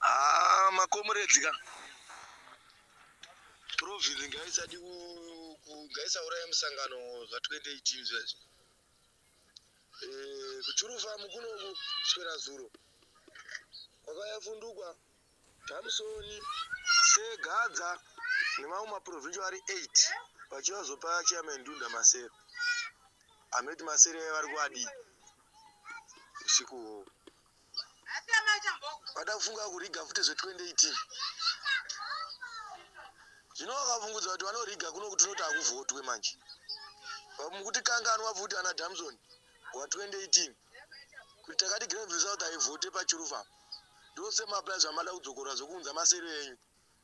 Ah, makomuredzi ka province ngaisadi ngaisauraya musangano zva 2018 zvezvo eh, kuchurufamu kunoku swera zuro kwakayafundukwa Samson Segadza nemamwe maprovincial ari 8 vachiva zvopa chairman Ndunda masere anoti masere aya vari kuadii usiku hwohwo vada kufunga kuriga futi zve2018 zvino vakavungudza kuti vanoriga kuno kuti unoti hakuvhotwe manje mukuti kanganwa futi ana damson wa 2018 kuita kati grand result haivhote pachiruva ndose mapaya zvamada kudzokora zvekuunza masero enyu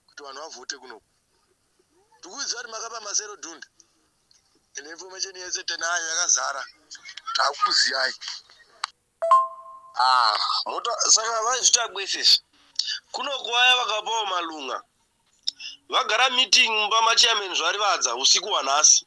kuti vanhu vavhote kunoku tikuziva kuti makapa masero dunda ine information yese tenayo yakazara takuziyai ah, mota saka vaizvita kwesese kunoku vaya vakapawo malunga vagara meeting mumba machairman zvarivadza usiku hwanhasi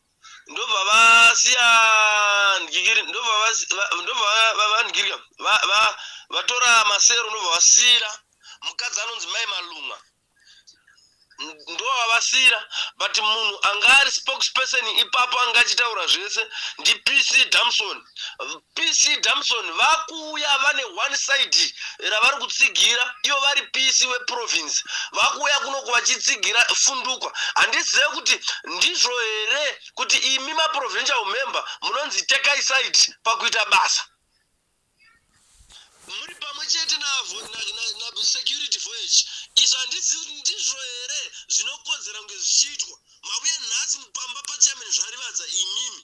ndobva vasiya ndigiri ndobva vasi- va- ndobva va- va- vandigirika Va- va- vatora masero ndobva vasira mukadzi anonzi mai malunga ndovavasira but munhu anga ari spokesperson ipapo anga achitaura zvese ndipc damson PC Damson vakuuya vane one side ravari kutsigira ivo vari PC weprovince vakuuya kunoku vachitsigira fundukwa handizive kuti ndizvo here kuti imi maprovincial member munonzi tekai side pakuita basa muri pamwe chete nasecurity voyage izvo handizivi kuti ndizvo here zvinokodzera kunge zvichiitwa mavuya nhasi mupamba pachairman zvarivadza imimi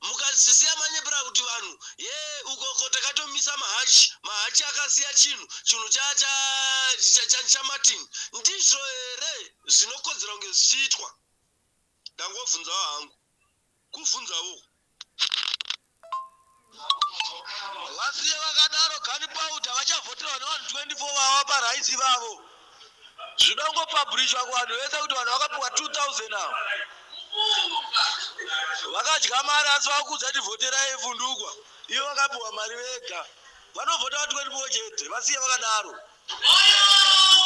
mukazisiya manyepera kuti vanhu ye ukoko takatomisa mahachi mahachi akasiya chinhu chinhu chamartin ndizvo here zvinokodzera kunge zvichiitwa ndangobvunzawo hangu kubvunzawo vasiye vakadaro gani pauda vachavhoterwa nevanhu 24 vava paraisi vavo Zvinoda kungopublishwa kuvanhu vese kuti vanhu vakapiwa 2000 avo vakadya mari asi vakuudza kuti vhoterai vundukwa ivo vakapiwa mari vega vanovhota va 24 chete vasiye vakadaro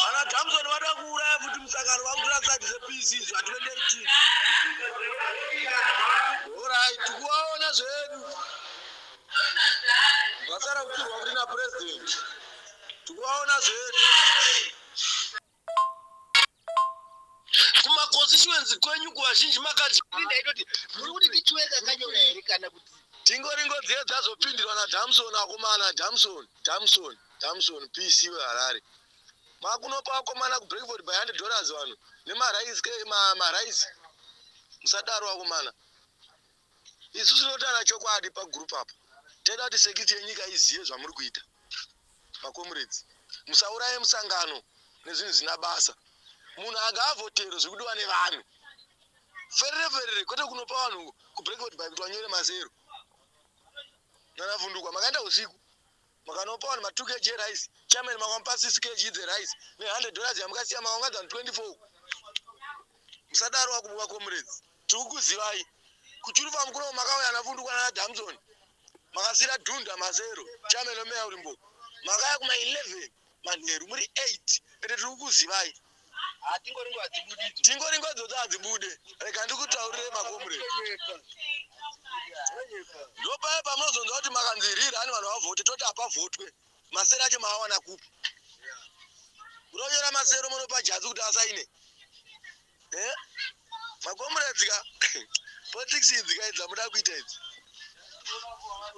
vana damson vada kuuraya futi musangano vakutora side zepc izvo hatiendei chii orai tikuvaona zvedu vasara kuturwa kuti napurezidendi tikuvaona zvedu kumaconstituency kwenyu kuvazhinji makadii ndaitoti muri kuti tichiweka kanyora here kana kuti tingori ngozi ye dzazopindirwa nadamson akomana damson damson damson pc weharare makunopa akomana kubreakford by hundred dollars vanhu nemarice musadaro akomana isu tinotaura chokwadi pagroup apo teda kuti sekiti yenyika izive zvamuri kuita makomuredzi musauraye musangano nezvinhu zvina basa munhu agaavhotero zvekudiwa nevanhu ferere ferere kwete kunopa vanhu kubreakford by kuti wanyore mazero nanavhundukwa makaenda usiku makanopa vanhu matu kg rice chairman makamupa 6 kg the rice ne 100 dollars yamukasiya makaungadza vanhu 24 musadaro wakubuka comrades tiri kukuzivai kuchurufa mukuno makauya navundukwa nana damson makasira dhunda mazero chairman omeya urimbo makaya kuma 11 manheru muri 8 ende tiri kukuzivai ah, tingori ngodzo kuti hadzibude rega ndikutaurire makomure ndopaya pamunozonzwa kuti makanzirira ani vanhu vavhote toti hapavhotwe masero acho maawana kupi munonyora masero munopa jadzi kuti asaine eh makomrades ka politics idzi ka dzamuda kuita idzi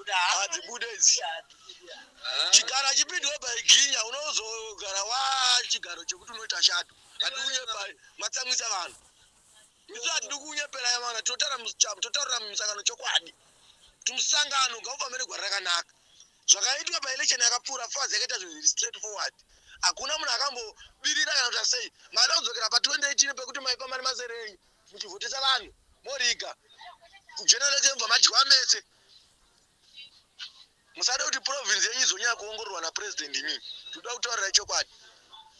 hadzibude idzi chigaro achipindwe by ginya unozogara wa chigaro chekuti unoita shato hatikunyepa matsamwisa vanhu isu hatidi kunyepera yavana tinotaurira musangano chokwadi kuti musangano ngaufambire gwara rakanaka zvakaitwa paelection yakapfuura faz yakaita zvinhu zviri straight forward hakuna munhu akambobirira kana kuti sei mari audzokera pa 2018 pekuti maipa mari mazere enyu muchivhotesa vanhu moriga kujenereke mva madyiwa mese musade kuti province yenyu izonyaya kuongororwa napresident imii toda kutaurira chokwadi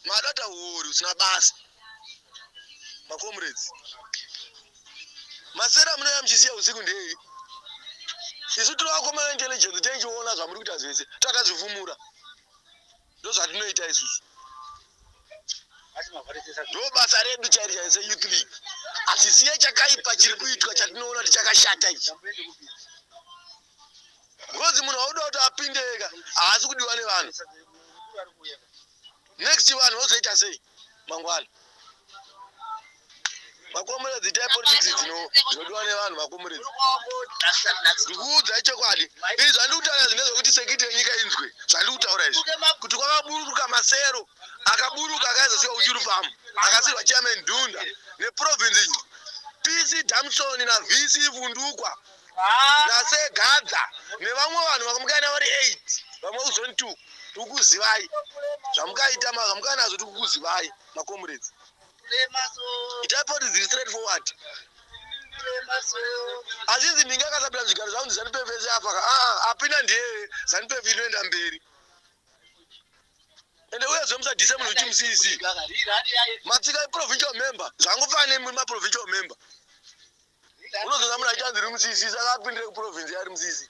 madata huori usina basa macomrades masera munoya muchisiya usiku ndei isu tiri vakomana intelligence tenchiona zvamuri kuita zvese takazvifumura ndozvatinoita isusu ndo basa redu chairi chaise youth league hatisiye chakaipa chiri kuitwa chatinoona tichakashata ichi because munhu auda kuti apindeka haasi kudiwa nevanhu next vanhu vozoita sei mangwana makomuredzi itai politics dzinodiwa nevanhu makomuredzi ndikuudzai chokwadi izvi zvandikutaura zvine zvokuti sekiti yenyika inzwe zvandikutaura izvi kuti kwakaburuka masero akaburuka akaizosiwa uchirupamo akasirwa chairman dhunda neprovince pc damsoni navc vundukwa nase gadza nevamwe vanhu vakamukaina vari 8 vamwe uzoni 2 tikukuzivai zvamukaita makamukana nazvo tikukuzivai macomrades itai politics straight forward azvinzi ndinge akasapira zvigaro zvangu ndizanupef ese afaka aa ah, apina ndiye zanupef inoenda mberi ende uye zve musadhise munhu uchi mucc matsika iprovincial member zvangofana nemuri maprovincial member unozoona munhu achanzi rimusisi saka apindire kuprovince yari musisi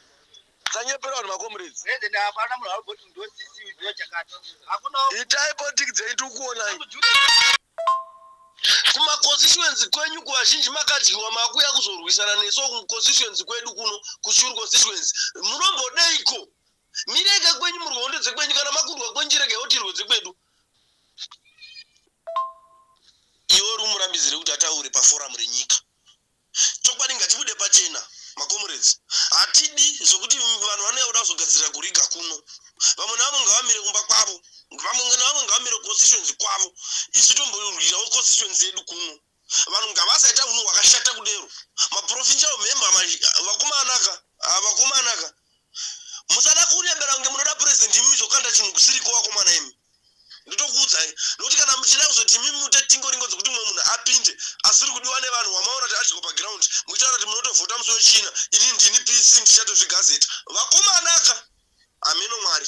sanyepera vanhu macomrades itai politic dzenyu tikuonai kumaconstituency kwenyu kuvazhinji makadyiwa makuya kuzorwisana nesu kuconstituency kwedu kuno kushuru constituency munombodeiko mirega kwenyu murwe hondo dzekwenyu kana makurwa kwenyu chirega yotirwe dzekwedu iwe uri umurambizire kuti ataure paforamu renyika chokwadi ngatibude pachena makomuredzi hatidi zvokuti vanhu vanouya kuda kuzogadzirira kuriga kuno vamwe navamwe ngavamire kumba kwavo vamwe navamwe ngavamire constituency kwavo isu tomborwirawo constituency yedu kuno vanhu ngavasaita unhu hwakashata kudero maprofinja omhemba vakumanaka ah, vakumanaka musada kurebera kunge munoda purezidendi imimi zvokanda chinhu kusiriko wakomana imi ndotokuudzai nokuti kana muchida kuzoti imimi mute tingoringo dzekuti mumwe munhu apinde asiri kudiwa nevanhu wamaona kuti adyiwa pagiraundi muchitaura kuti munotovhota musi wechina ini ndini pc ndichatozvigazeta vakomanaka hameno mwari